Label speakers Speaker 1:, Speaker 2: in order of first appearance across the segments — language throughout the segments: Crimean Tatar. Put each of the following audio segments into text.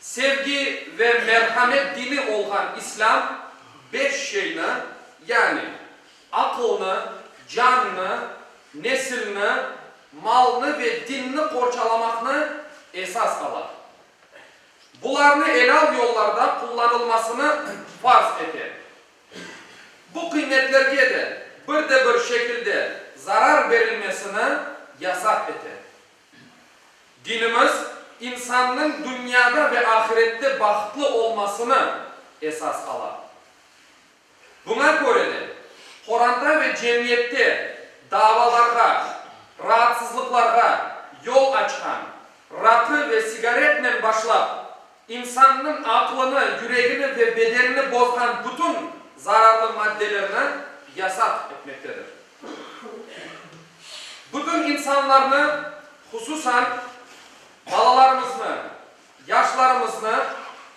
Speaker 1: Sevgi ve merhamet dini olğan İslâm beş şeyni, yani, aqılnı, cannı, nesilni, malnı ve dinni qorçalamaqnı esas ala. Bularnı elâl yollarda qullanılmasını farz ete. Bu qıymetlerge de bir de bir şekilde zarar berilmesini yasaq ete. Dinimiz, insannıñ dünyada ve ahirette bahıtlı olmasını esas ala. Buña köre de, Qoranda ve cemiyette davalarğa, raatsızlıqlarğa yol açqan, raqı ve sigaretnen başlap, İnsannıñ aqlını, yüregini ve bedenini bozğan bütün zararlı maddelerni yasaq etmektedir. Bütün insanlarnı, hususan balalarımıznı, yaşlarımıznı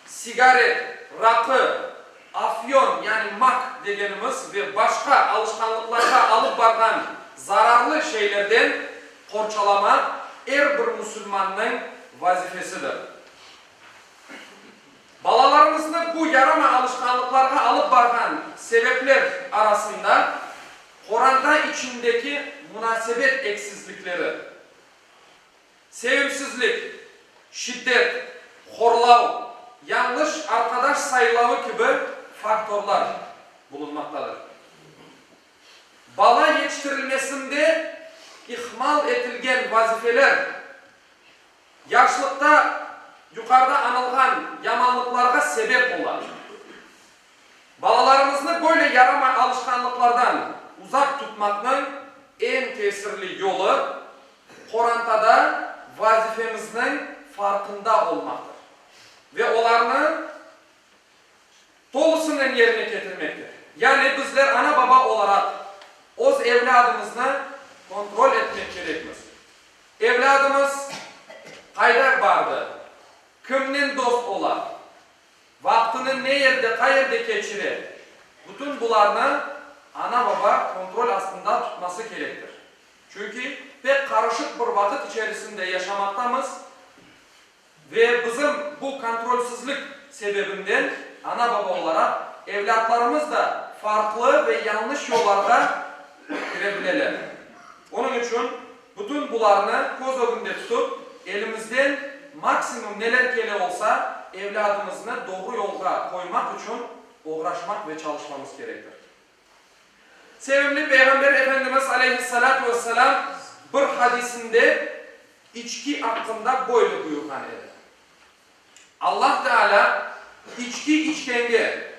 Speaker 1: sigaret, raqı, afyon, yani mak degenimiz, ve başqa alışqanlıqlarğa alıp barğan zararlı şeylerden qorçalamaq er bir musulmannıñ vazifesidir. Balalarımıznı bu yarama alışqanlıqlarğa alıp barğan sebepler arasında qoranta içindeki munasebet eksizlikleri, sevimsizlik, şiddet, horlav, yañlış arqadaş saylavı kibi faktorlar bulunmaqtadır. Bala yetiştirilmesinde ihmal etilgen vazifeler. Yaşlıqta yuqarıda añılğan yamanlıqlarğa sebep ola. Balalarımıznı böyle yaramay alışqanlıqlardan uzaq tutmaqnıñ eñ tesirli yolu, qorantada vazifemizniñ farqında olmaqtır ve olarnı tolusınen yerine ketirmektir. Yani bizler ana-baba olaraq öz evlâdımıznı kontrol etmek kerekmiz. Evlâdımız qayda bardı, kimnen dost ola, vaqtını ne yerde, qayerde keçire, bütün bularnı ana-baba kontrol astında tutması kerektir. Çünki pek qarışıq bir vaqıt içerisinde yaşamaqtamız. Ve bizim bu kontrolsizlik sebebinden ana-baba olaraq evlâtlarımız da farqlı ve yañlış yollarğa kire bileler. Onıñ içün bütün bularnı köz ögünde tutıp, elimizden maksimum neler kele olsa, evlâdımıznı doğru yolğa qoymaq içün oğraşmaq ve çalışmamız kerektir. Sevimli Peyğamber Efendimiz aleyhissalâtu vesselâm bir hadisinde içki aqqında böyle buyurğan edi, Allah Teala içki içkenge,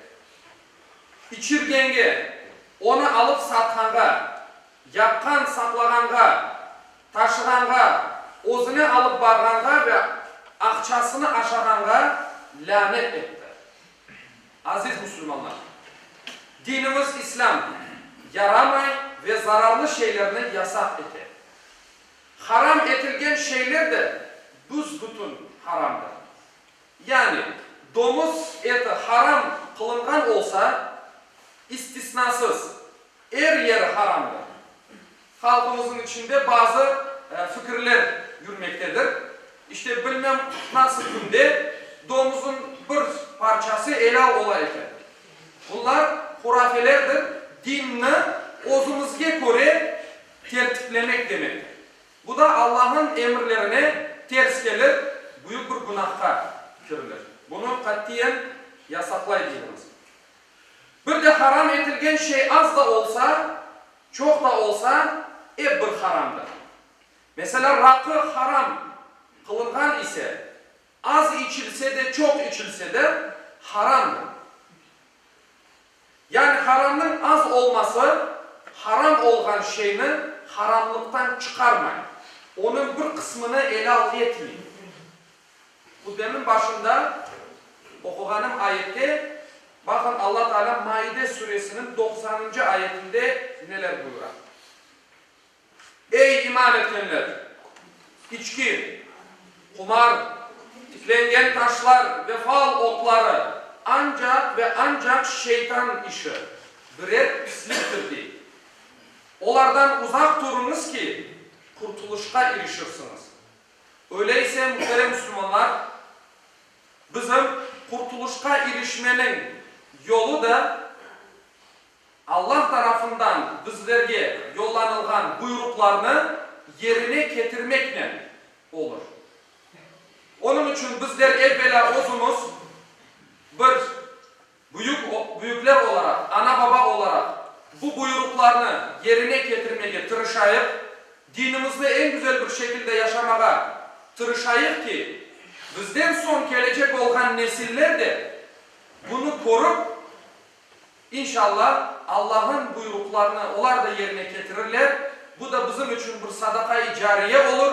Speaker 1: içirgenge, onı alıp satqanğa, yapqan, saqlağanğa, taşığanğa, özüne alıp barğanğa ve aqçasını aşağanğa lânet etti. Aziz musulmanlar! Dinimiz İslâm yaramay ve zararlı şeylerni yasaq ete. Haram etilgen şeyler de büs-bütün haramdır. Yani, domuz eti haram qılınğan olsa, istisnasız, er yeri haramdır. Halqımıznıñ içinde bazı fikirler yürmektedir, işte, bilmem, nasıl künde domuzın bir parçası elâl ola eken. Bunlar hurafelerdir, dinni özümizge köre tertiplemek demektir. Bu da Allahnıñ emirlerine ters kelir, büyük bir günahqa kirilir. Bunı qatiyen yasaqlay biliriz. Bir de haram etilgen şey az da olsa, Çoq da olsa, ep bir haramdır. Meselâ, raqı haram qılınğan ise, az içilse de, çoq içilse de haramdır. Yani haramnıñ az olması haram olğan şeyni haramlıqtan çıqarmay, onıñ bir qısmını elâl etmey. Hutbemiñ başında oquğanım ayette, baqıñ, Alla Taalâ Maide Suresiniñ doqsanıncı ayetinde neler buyura, Ey, iman etkenler! İçki, qumar, tiklengen taşlar ve fal otları ancaq ve ancaq şeytan işi, birer pisliktir, dey. Olardan uzaq turuñız ki, qurtulışqa irişirsiñiz. Öyleyse, muhterem müsülmanlar, bizim qurtuluşqa irişmeniñ yolu da Allah tarafından bizlerge yollanılğan buyruqlarnı yerine ketirmeknen olur. Onıñ içün bizler evvelâ özümiz bir. Büyük, büyükler olaraq, ana-baba olaraq bu buyuruqlarnı yerine ketirmege tırışayıq, dinimizni eñ güzel bir şekilde yaşamağa tırışayıq ki, bizden soñ kelecek olğan nesiller de bunı körüp, inşalla, Allahın buyuruqlarını olar da yerine ketirirler, bu da bizim içün bir sadaka-i cariye olur.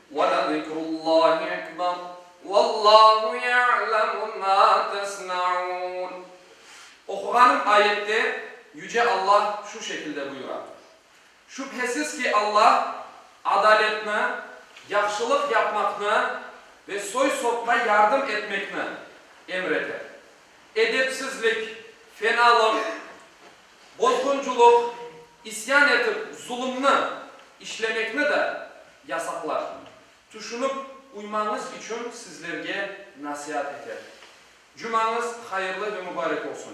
Speaker 1: Ve le zikrullahi ekber Vallahu ya'lemu ma tesna'un Oquğanım ayette Yüce Allah şu şekilde buyura, Şübhesiz ki, Allah adaletni, yahşılıq yapmaqnı ve soy-sopqa yardım etmekni emir ete. Edepsizlik, fenalıq, bozğunculık, isyan etip zulumnı işlemekni da yasaqlar. Tüşünip uymañız içün sizlerge nasiat eter. Cumañız hayırlı ve mübarek olsun.